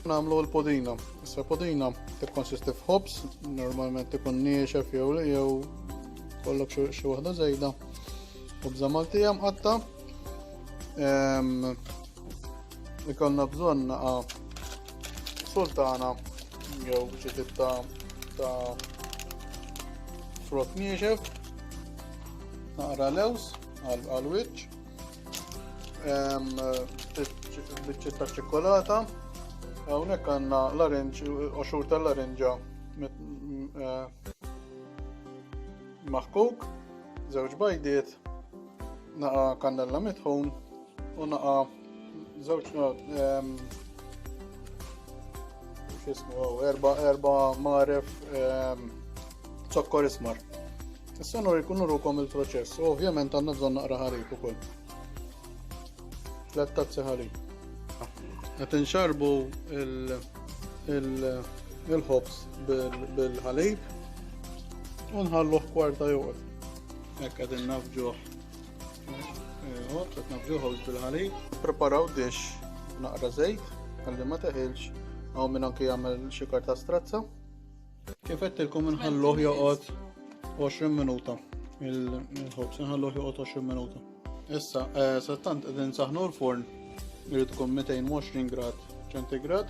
Namlu l-podina. Issa podina tikkonsisti f'ħobs, normalment ikun niexef jew jew kollok xi waħda żejda. Ħobża Maltija mqatta. Ikolna bżonn naqa sultana jew ġitit ta' ta' frott niexef, naqra lews għal wiċċ, biċċiet ta' ċikkolata, hawnhekk għandna l-arinġ, oxur tal-arinġa eh, maħkuk, żewġ bajdiet, naqa kannella mitħun, U naqa żewġ ehm, x'ismu erba' erba' maref ehm, zokkor ismar. Issa nur ikunu rukom il-proċess, u ovvjament għandna bżonn naqra ħalib ukoll. Tlet tazzi ħalib. Qed inxarbu il-ħobs bil-ħalib u nħalluh kwarta joqgħod. Hekk qed innafġuh Ejwa, qed nafġu ħobż bil-ħalib. Preparaw dix naqra żejt ħalli ma teħilx hawn minn anke jagħmel xi karta strazza. Kif qedtilkom inħalluh joqgħod 20 minuta il-ħobż inħalluh joqgħod 20 minuta. Issa, eh, sattant qegħdin saħnu l-forn irid tkun 220 grad ċentigrad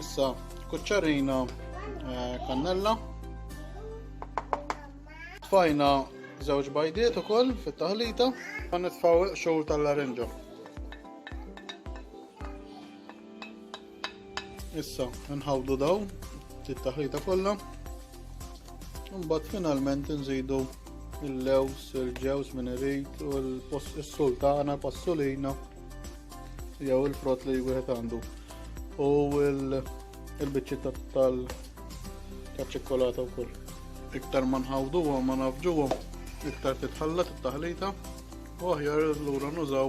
Issa kuċċarina eh, kannella. Tfajna żewġ bajdiet ukoll fit-taħlita. Ma nitfgħu xogħol tal-larinġa. Issa nħawdu dawn it-taħlita kollha. Imbagħad finalment nżidu il-lews, il-ġews minn irid u l-sultana, passolina jew il-frott li wieħed għandu. U l-biċċitta tal-ċikkolata wkoll. Iktar ma nħawduhom ma nafġuhom, iktar titħallat it-taħlita u aħjar lura nużaw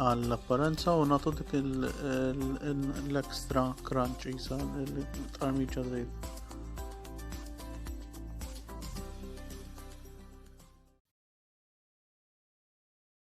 għall-apparenza u nagħtu dik l-extra crunch isa l-armiġa żejt.